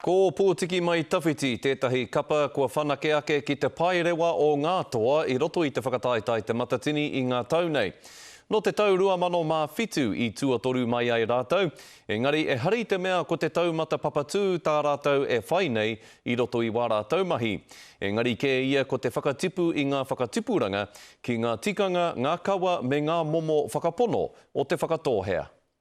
Ko Pōtiki Mai Tawhiti tētahi kapa kua whanake ake ki te paerewa o ngā toa i roto i te whakataetae Te Matatini i ngā tau nei. Nō te tau 2007 i tuatoru mai ai rātou, engari e hari te mea ko te taumata papatū tā rātou e whai nei i roto i wā rātou mahi. Engari kē ia ko te whakatipu i ngā whakatipuranga ki ngā tikanga, ngā kawa me ngā momo whakapono o Te Whakatōhea.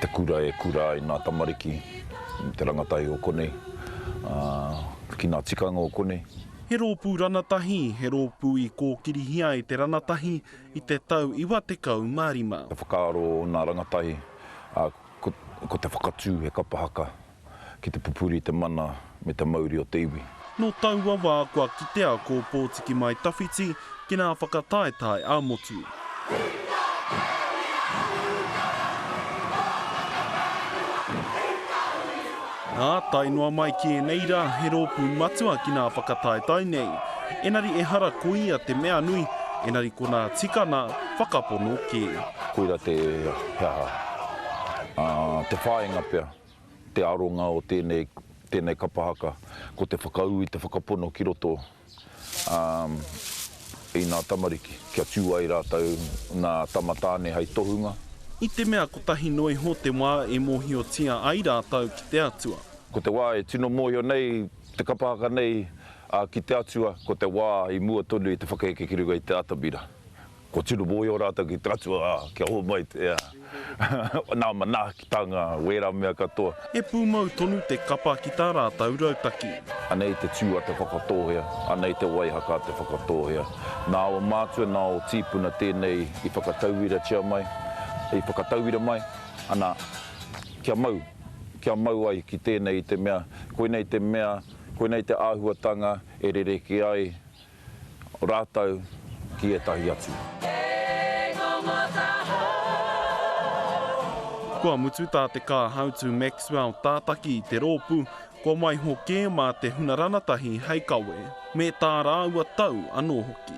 te kura e kura ai ngā tamariki me te rangatahi o konei, ki ngā tikanga o konei. He rōpū ranatahi, he rōpū i kōkirihia e te ranatahi i te tau iwa tekau mā rima. Te whakaaro o ngā rangatahi, ko te whakatū he kapa haka. ki te pupuri te mana me te mauri o te iwi. Nō taua wā kua kitea ko Pōtiki Mai Tawhiti ki ngā whakataetae a Motu. Nā, tae noa mai ki ēnei rā he rōpū matua ki ngā whakataetae nei. Engari ehara ko ia te mea nui, engari konā tika nā, whakapono kē. Koira te he aha, te whāinga pea. te aronga o tēnei, tēnei kapa haka, ko te whakaū i te whakapono ki roto i ngā tamariki, kia tū ai rātou ngā tama tāne hei tohunga. I te mea kotahi noa iho te wā e mōhiotia ai rātou ki te Atua. Ko te wā e tino mōhio nei te kapa haka nei ki te Atua, ko te wā i mua tonu i te whakaheke ki runga i te atamira. Kua tino mōhio rātou ki te Atua, ā, kia hou mai te, ā, Nā manaaki tā ngā wērā mea katoa. He pūmau tonu te kapa ki tā rātou rautaki. Anei te tū a te whakatōhea, anei te waihaka a te whakatōhea. Nā aua mātua, nā ō tīpuna tēnei i whakatauiratia mai, i whakatauira mai, ana, kia mau, kia mau ai ki tēnei i te mea, koinei te mea, koinei te āhuatanga e rerekē ai Rātou ki ētahi atu. Kua mutu tā Te Kāhautu Maxwell tātaki i te rōpū, kua waiho kē mā te huna ranatahi hei kawe, me tā rāua tau anō hoki.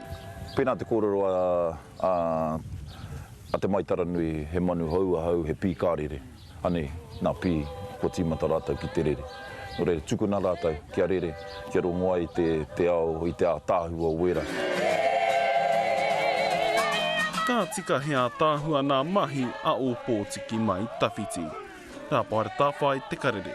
Pēnā te kōrero a Te Maitaranui, he manu hou ahau, he pīkārere. Anei, nā Pī, kua tīmata rātou ki te rere. Nō reira, tukuna rātou kia rere, kia rongo ai te ao i te ātaahua o wērā. Ka tika he ātaahua nā Mahi a Ōpōtiki Mai Tawhiti. Rāpare Tāwhai te karere.